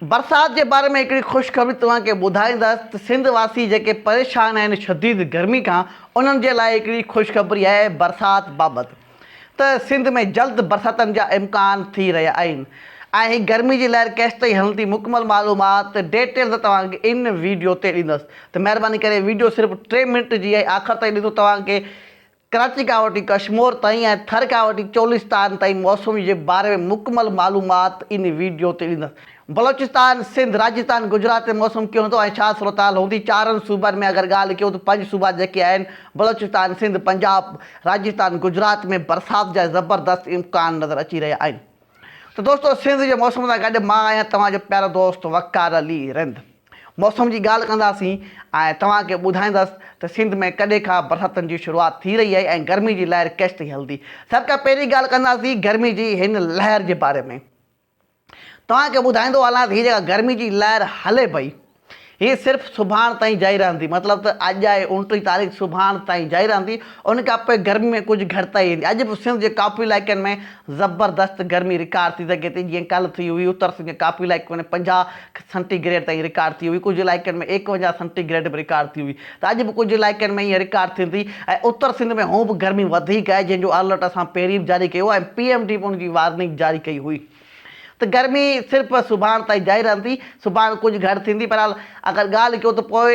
برسات جي باري ۾ هڪڙي خوشخبري توهان کي ٻڌائيندس ته سنڌ واسي جيڪي پريشان آهن شديد گرمي کان انهن جي لاء هڪڙي خوشخبري آهي برسات بابت ته سنڌ ۾ جلد برساتن جا امڪان ٿي رهيا آهن ۽ هي گرمي جي لهر ڪيستائين هلندي مڪمل معلومات ڊيٽيلز توهان کي ان ويڊيو تي ڏيندس ته مهرباني ڪري ويڊيو صرف ٽي منٽ جي آهي آخر تائين ڏسو توهان کي ڪراچي کان وٺي ڪشمور تائين ۽ ٿر کان وٺي چولستان تائين موسم جي باري ۾ مڪمل معلومات ان ويڊيو تي ڏيندس. بلوچستان، سنڌ، راجستان، گجرات ۾ موسم ڪيئن هوندو ۽ ڇا صورتحال هوندي؟ چارن صوبن ۾ اگر ڳالهه ڪيون ته پنج صوبا جيڪي آهن بلوچستان، سنڌ، پنجاب، راجستان، گجرات ۾ برسات جا زبردست امڪان نظر اچي رهيا آهن ته دوستو سنڌ جي موسم سان گڏ مان آهيان توهان جو پيارو دوست وقار علي رند. موسم جي ڳالهه ڪنداسين ۽ توهان کي ٻڌائيندس ته سنڌ ۾ ڪڏهن کان برساتن جي شروعات ٿي رهي آهي ۽ گرمي جي لهر ڪيس تائين هلندي. سڀ کان پهرين ڳالهه ڪنداسين گرمي جي هن لهر جي باري ۾ توهان کي ٻڌائيندو هلان ته هي جيڪا گرمي جي لهر هلي پئي هي صرف سڀاڻ تائين جاري رهندي مطلب ته اڄ آهي اوڻٽيهه تاريخ سڀاڻ تائين جاري رهندي ان کان پوء گرمي ۾ ڪجهه گهٽتائي ايندي اڄ به سنڌ جي ڪافي علائقن ۾ زبردست گرمي رڪارڊ ٿي سگهي ٿي جيئن ڪالهه ٿي هئي اتر سنڌ جي ڪافي علائقن ۾ پنجاهه سينٽي گريڊ تائين رڪارڊ ٿي هئي، ڪجهه علائقن ۾ ايڪونجاهه سينٽي گريڊ به رڪارڊ ٿي هئي ته اڄ به ڪجهه علائقن ۾ ائين رڪارڊ ٿيندي ۽ اتر سنڌ ۾ هونء به گرمي وڌيڪ آهي جنهن جو الرٽ اسان پهرين به جاري ڪيو ۽ پي ايم ڊي به ان جي وارننگ جاري ڪئي هئي ته گرمي صرف سڀاڻ تائين جاري رهندي، سڀاڻ ڪجهه گهٽ ٿيندي، بهرحال اگر ڳالهه ڪيو ته پوء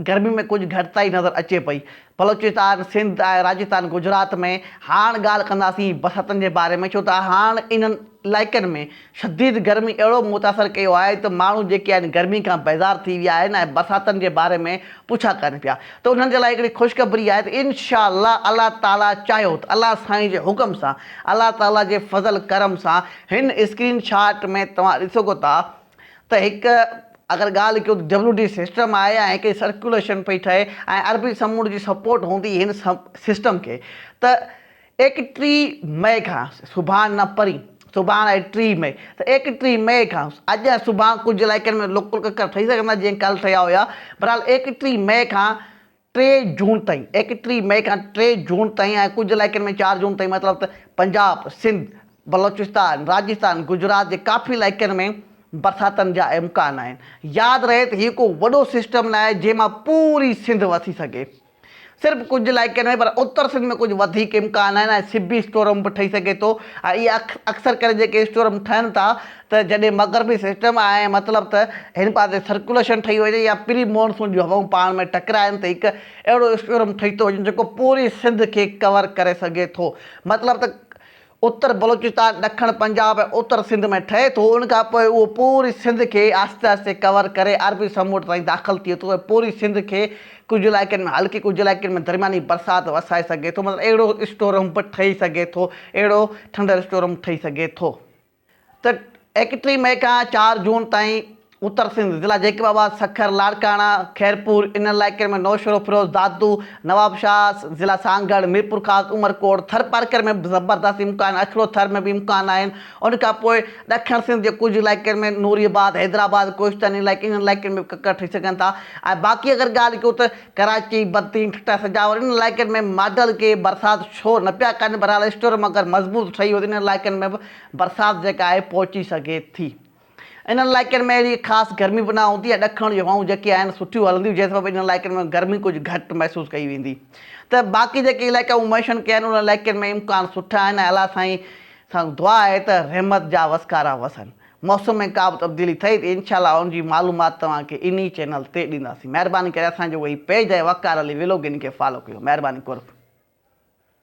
گرمي ۾ ڪجهه گهٽتائي نظر اچي پئي. بلوچستان، سنڌ ۽ راجستان گجرات ۾ هاڻ ڳالهه ڪنداسين برساتن جي باري ۾ ڇو ته هاڻ انهن علائقن ۾ شديد گرمي اهڙو متاثر ڪيو آهي ته ماڻهو جيڪي آهن گرمي کان بيزار ٿي ويا آهن ۽ برساتن جي باري ۾ پڇا ڪن پيا ته انهن جي لاء هڪڙي خوشخبري آهي ته انشاءالله الله تعالي چاهيو ته الله سائين جي حڪم سان الله تعالي جي فضل ڪرم سان هن اسڪرين شاٽ ۾ توهان ڏسوگو ته ته هڪ اگر ڳالهه ڪيون ته ڊبليو ڊي سسٽم آهي ۽ هڪڙي سرڪيوليشن پئي ٺهي ۽ عربي سمنڊ جي سپورٽ هوندي هن سسٽم کي ته ايڪٽيهه مئي کان سڀاڻ نه پرين سڀاڻ آهي ٽيهه مئي ته ايڪٽيهه مئي کان اڄ ۽ سڀاڻ ڪجهه علائقن ۾ لوڪل ڪڪر ٺهي سگهندا جيئن ڪالهه ٺهيا هيا بهرحال ايڪٽيهه مئي کان ٽي جون تائين، ايڪٽيهه مئي کان ٽي جون تائين ۽ ڪجهه علائقن ۾ چار جون تائين مطلب ته پنجاب، سنڌ، بلوچستان، راجستان، گجرات جي ڪافي علائقن ۾ برساتن جا امڪان آهن. ياد رهي ته هيء ڪو وڏو سسٽم ناهي جنهن مان پوري سنڌ وسي سگهي. صرف ڪجهه علائقن ۾ پر اتر سنڌ ۾ ڪجهه وڌيڪ امڪان آهن ۽ سبي اسٽورم به ٺهي سگهي ٿو ۽ اهي اڪثر ڪري جيڪي اسٽورم ٺهن ٿا ته جڏهن مغربي سسٽم آهي مطلب ته هن پاسي سرڪيوليشن ٺهي وڃي يا پري مونسون جون هوائون پاڻ ۾ ٽڪرائن ته هڪ اهڙو اسٽيورم ٺهي ٿو وڃي جيڪو پوري سنڌ کي ڪور ڪري سگهي ٿو مطلب ته اتر بلوچستان ڏکڻ پنجاب ۽ اتر سنڌ ۾ ٺهي ٿو ان کان پوء اهو پوري سنڌ کي آهستي آهستي ڪور ڪري عربي سمنڊ تائين داخل ٿئي ٿو ۽ پوري سنڌ کي ڪجهه علائقن ۾ هلڪي ڪجهه علائقن ۾ درمياني برسات وسائي سگهي ٿو مطلب اهڙو اسٽورم به ٺهي سگهي ٿو اهڙو ٿنڊر اسٽورم ٺهي سگهي ٿو. ته ايڪٽري مئي کان چار جون تائين اتر سنڌ، ضلع جيڪب آباد، سکر، لاڙڪاڻا، خيرپور، انهن علائقن ۾ نوشهروفيروز، دادو، نوابشاهه، ضلع سانگهڙ، ميرپورخاص، عمرڪوٽ، ٿرپارڪر ۾ به زبردست امڪان آهن، اکڙو ٿر ۾ به امڪان آهن، ان کان پوء ڏکڻ سنڌ جي ڪجهه علائقن ۾ نوري آباد، حيدرآباد، ڪوهستاني علائقي انهن علائقن ۾ به ڪڪر ٺهي سگهن ٿا ۽ باقي اگر ڳالهه ڪيون ته ڪراچي، بدين، ٺٽا، سجاول انهن علائقن ۾ ماڊل ڪي برسات ڇو نه پيا ڪن بهرحال اسٽورم اگر مضبوط ٺهي ويو ته انهن علائقن ۾ به برسات جيڪا آهي پهچي سگهي ٿي. انهن علائقن ۾ اهڙي خاص گرمي به نه هوندي ۽ ڏکڻ جون هوائون جيڪي آهن سٺيون هلنديون جنهن سبب انهن علائقن ۾ گرمي ڪجهه گهٽ محسوس ڪئي ويندي ته باقي جيڪي علائقا مون ميشن ڪيا آهن انهن علائقن ۾ امڪان سٺا آهن ۽ الله سائين سان دعا آهي ته رحمت جا وسڪارا وسن موسم ۾ ڪا به تبديلي ٿئي ته انشاء الله ان جي معلومات توهان کي انهي چينل تي ڏينداسين مهرباني ڪري اسان جو هي پيج آهي وقار علي ويلوگ ان کي فالو ڪيو مهرباني قرب.